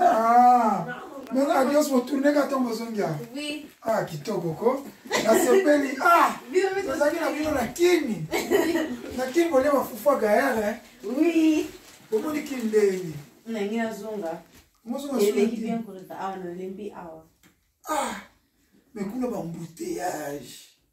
Ah, mon adios motourne ka ntongo ozongi awa Oui. ah kitoko ko nasepeli ah tozalaki na bino na kini na kini bolia bafufu ya gayare Oui. omoni kini ndenge Nangi nazonga. mozonga Eleki soki bien koleka awa nalembi awa. ah mais kuna bambouteillage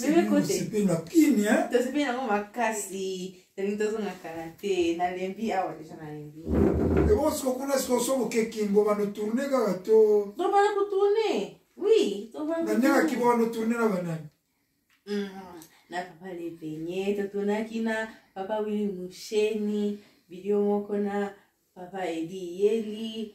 meme na kimia tosepe yango makasi tolingi tozonga kala te nalembi awa deja nalembi ebo siko kuna siko somo kekimbo bano tourne kaka to tobana kotourne oui tobanaandenge akimbo bano tourne na banani mm-hmm. na papa lepenye totournaki na papa wili musheni video moko na papa edi yeli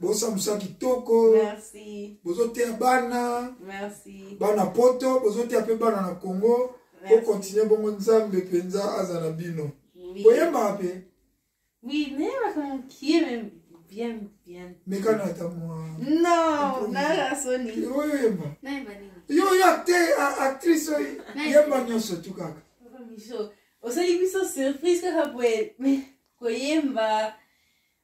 bosala mosala kitoko bozoteya bana bana poto bozoteya mpe bana na congo bokontinue bongo nzambe mpenza aza na bino boyembaka mpe mekana ata mwaoyoyemba yo oyo actrice oyo yemba nyonso tu kaka osali biso surprise kaka boye koyemba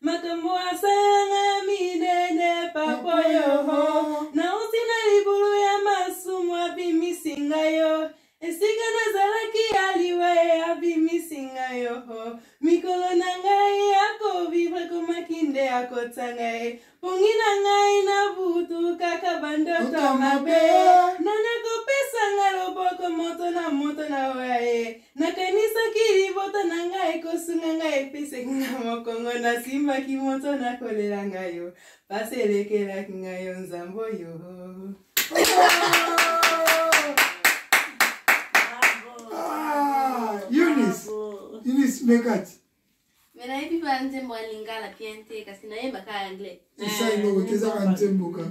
makambo asalanga minene papa yoho nauti na libulu ya masumu abimisi ngai yo esika nazalaki ya liwa ye abimisi ngai yo mikolo na ngai ya kovivre komaki nde ya kotya ngai pongi na ngai na butu kaka bandoto mabe nani akopesa ngai loboko moto na moto na oya ye nakanisaki libota na ngai ekosunga ngai epeseki nga mokongo nasimbaki moto nakolela ngai yo pasi elekelaki ngai yo nzambo yo Eunice, Eunice Mekati. Mais nayebi ba nzembo ya lingala bien te kasi nayebaka anglais. Esa eloko te ezaka nzembo kaka.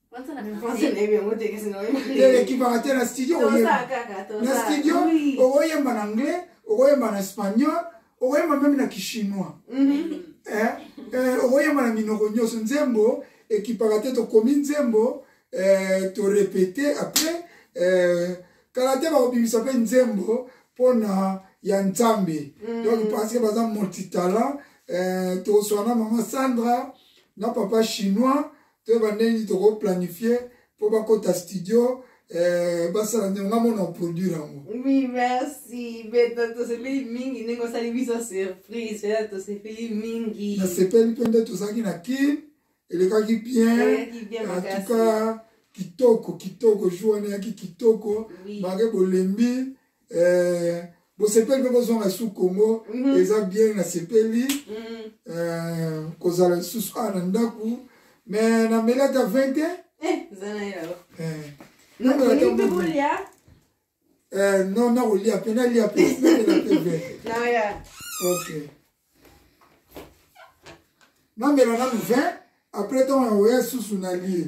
ekipaka te na studio na studio okoyemba na anglais okoyemba na espagnol okoyemba meme na kichinois mhm. eh, eh, okoyemba na minoko nyonso nzembo ekipaka te tokomi nzembo eh, torepete après kala te bakobimisa mpe nzembo mpona ya nzambe mhm. donc parce que baza multitalent tokoswana mama sandra na papa chinois toyeba ndenge nini tokoplanifie mpo bakota studio eh, basala ndenge nga mona oproduire yango oui merci beta tosepeli mingi ndenge osali biso surprise pena tosepeli mingi nasepeli mpe nde tozalaki na kin elekaki bien antuka kitoko kitoko jour wana eyaki kitoko malgre bolembi eh, bosepeli mpe bozonga lisusu congo mm -hmm. eza bien nasepeli mm -hmm. eh, kozala lisusu awa na ndako me nameli ata 20 te eh, eh. eh, non nakolia mpe nalia mpe namela mpe 20 ok namela nanu 20 après ntango nakoya lisusu nalie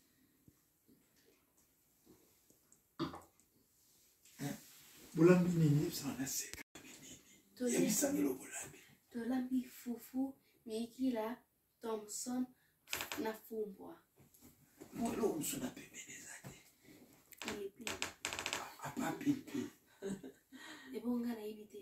bolambi nini yebisanga na seka nini yebisangelo bolambi tolambi fufu mikila thomson na fumbwa eloko mosusu na pembeni eza te apa pipi ebonga nayebi te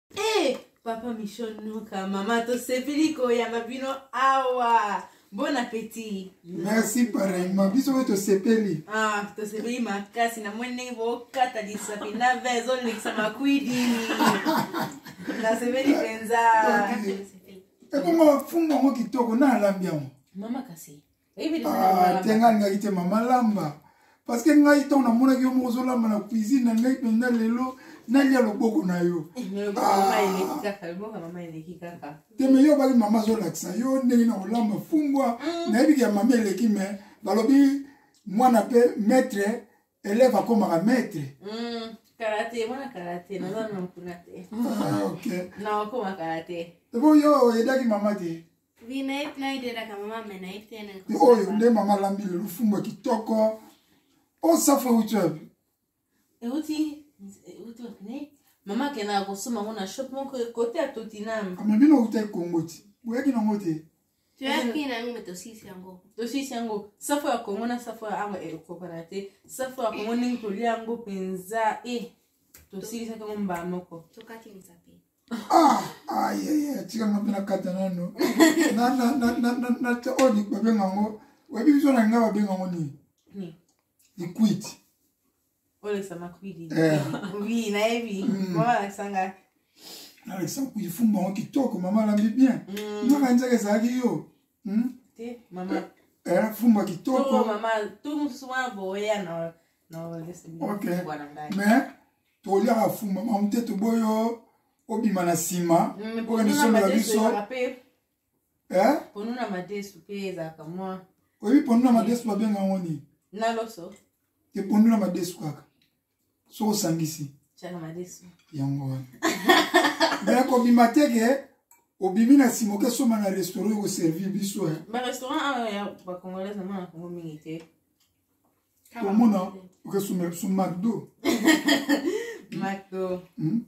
Eh, papa Michel Nuka, mama tosepeli koyamba bino awa. Bon appétit. Merci pareillement. Biso mpe tosepeli. Ah, tosepeli makasi na moni ndenge bokata lisapi na vin ezolekisa makwidi. Nasepeli mpenza. Ebongo fungo yango kitoko na alambi yango. Mama kasi. Ah, te ngai alingaki te mama lamba parce que ngai ntango namonaki yo moko ozolamba na cuisine na ngai mpenza lelo nalia loboko na yo eh, ah. te me yo obaki mama azolakisa yo ndenge na kolamba fumbwa mm. nayebiki ya mama eleki me balobi mwana mpe maître elève akomaka maître mm, karate mwana karate naza na mokuna te ah, ok na okoma karate po yo oyedaki mama te oyo nde mama alambi lelo fumbo kitoko osafa euti wapi euti euti mama akendaka kosomba yango na shop moko kote ya totinam ame bino outa ekongo ti boyaki nango te toyaki nango me tosisi yango tosisi yango safo ya kongo na safo ya awa ekokana te safo ya kongo ndenge tolia yango mpenza e eh, tosilisaki yango mbaa moko tokati nzape ah ayeye tika nga mpe nakata nano oyo babenga yango oyebi biso na linga babenga yango nini liquide nalekisa kuidi fumba yango kitoko mama alambi bien mm. naka njaka ezalaki yo hmm? eh, fumba kitoko mais toliaka fumba mamu te toboyo obima na nsima mm, okende sombela biso eh? ponuna madesu mpe ezalaka mwa oyebi ponuna madesu babenga yango nini na loso te ponuna madesu kaka soki osangisi yango wana me kobima te ke obimi na nsima oke soma na restaurant ekoservir biso eh? omona oke su macdo macdo hmm?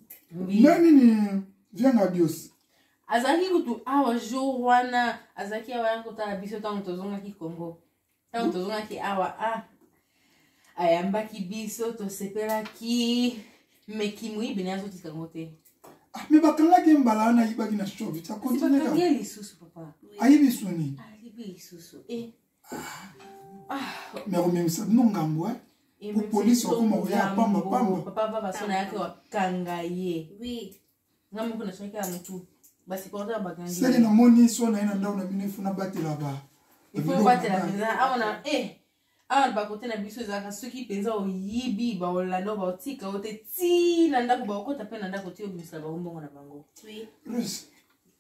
na nini vianga dios azalaki kutu awa ah, jour wana azalaki awa ya kotala biso ntango tozongaki congo ntango tozongaki awa a ah, ayambaki biso tosepelaki me kimoyibi naye azotika yango te ah, me bakangaki mbala wana ayibaki na shovi akontinue lisusu papa ayibi soni ayibi lisusu e eh. me akomemisa bino ngambo e po polisi akoma koya pamba pamba papa papa so nayaki wakanga ye nga moko nasoki ya motu basipota ya bagangi seke namoni so na ye na ndako na bino efuna batela ba ifo batela mpenza awa na e eh, awa bakote na biso ezalaka soki mpenza oyibi baolanda baotika yo te ti na ndako baokota mpe na ndako ti obimisa bango mbongo na bango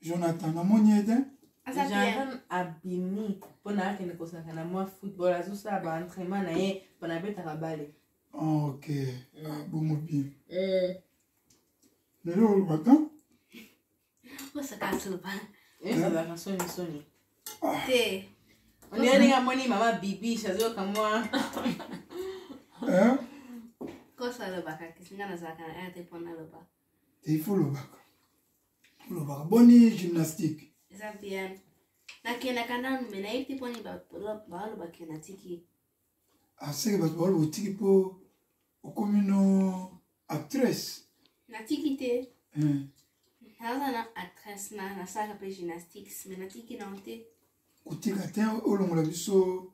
jonathan namoni eden jonathan abimi mpo na akende kosaka na mwa football azosala baentraînement na ye mpo na abetaka bale ah, ok mm. ah, bongo bien mm. lelo olobaka osaka soba ezalaka eh? soni soni ah. te ondenge amoni mama bibi azoyoka mwa eh? kosa alobaka kisinga nazalaka na rt mpo nalobaka te il faut olobaka olobaka boni gymnastique eza bien nakendaka nanu me nayebi te mponi balobake natiki aseke ah, bato baloba otiki mpo okomi no actrice natiki te hmm. naza na actrice na nasalaka mpe gymnastiques me natiki nango te kotika te olongola biso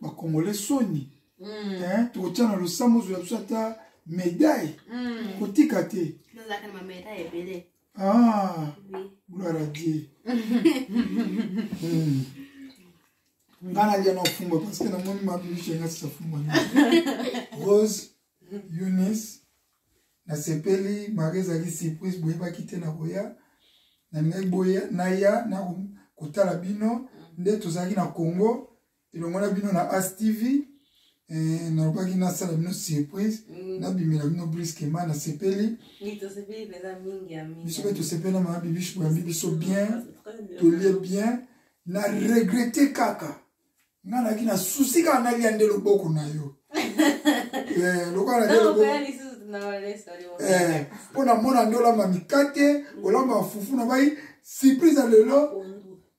bakongole soni mm. eh, tokotya na losambo ozwa biso ata medaille mm. kotika te ah, gloire a dieu mm. nga nalya na ofungwa parce que namoni mabimiso yanga sisafungwa rose Eunice, nasepeli mari ezali surprise boyebaki te na koya nalingaki boya naya na kotala bino nde tozalaki na congo elongo na bino na as tv eh, nalobaki nasala bino surprise mm. nabimela bino briskema nasepeli biso mpe tosepeli na mama bibish boyambi biso bien tolie bien na regrete kaka nga naki na susi kaka nalia nde loboko na yo eh, lokola eh, mpo namona nde olamba mikate olamba fufu na bai surprise ya lelo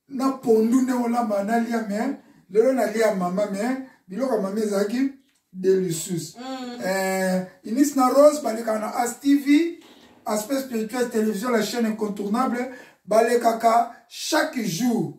na pondu nde olamba nalia me lelo nalia mama me biloko ya mama ezalaki delicious mm. eh, inis na rose balekaka na as tv aspect spirituel télévision la chaîne incontournable balekaka chaque jour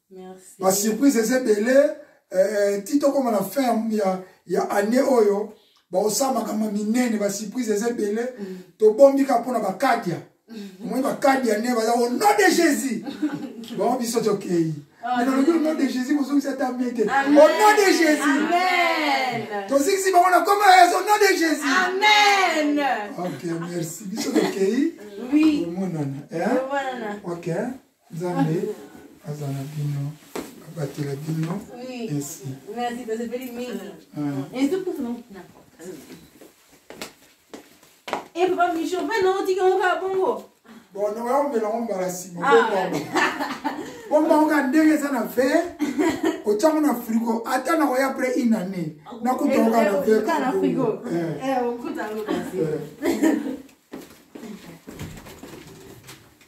ba surprise eza ebele eh, ti tokóma na fin ya, ya année oyo baosala makambo ya minene ba surprise eza ebele mm. tobombi kaka mpo na bakadia mm-hmm. omoni bakadia ne baza au nom de jésus bango biso tokei ah, nalobi au nom de jésus bozongisi ata mie te au nom de jésus tozikisi bango na koma yesu au nom de jésus amen ok merci biso tokei omonana eh? ok Nzambe aza na bino abatela bino esi. Merci, tosepeli mingi. E papa Micho, mpe na otiki yango kaka bongo. Bon, na oyambela yango mbala nsima. Bomba yango kaka ndenge eza na verre, otya yango na frigo, ata na koya après une année, nakuta yango kaka na verre. Kaka na frigo. Eh, okuta yango kasi.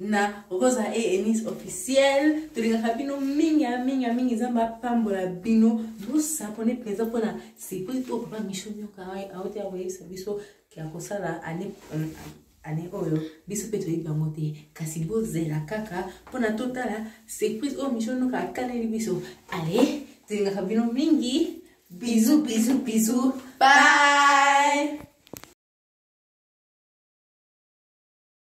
na rosa e enis officiel tolingaka bino mingi ya mingi ya mingi nzambe apambola bino bosabone mpenza mpona surprise oyo papa micho nyoka auti ya koyebisa biso ya kosala ane ane oyo biso mpe toyebi yango te kasi bozela kaka mpona totala surprise oyo micho nyoka akaneli biso ale tolingaka bino mingi bizu bizu bizu bye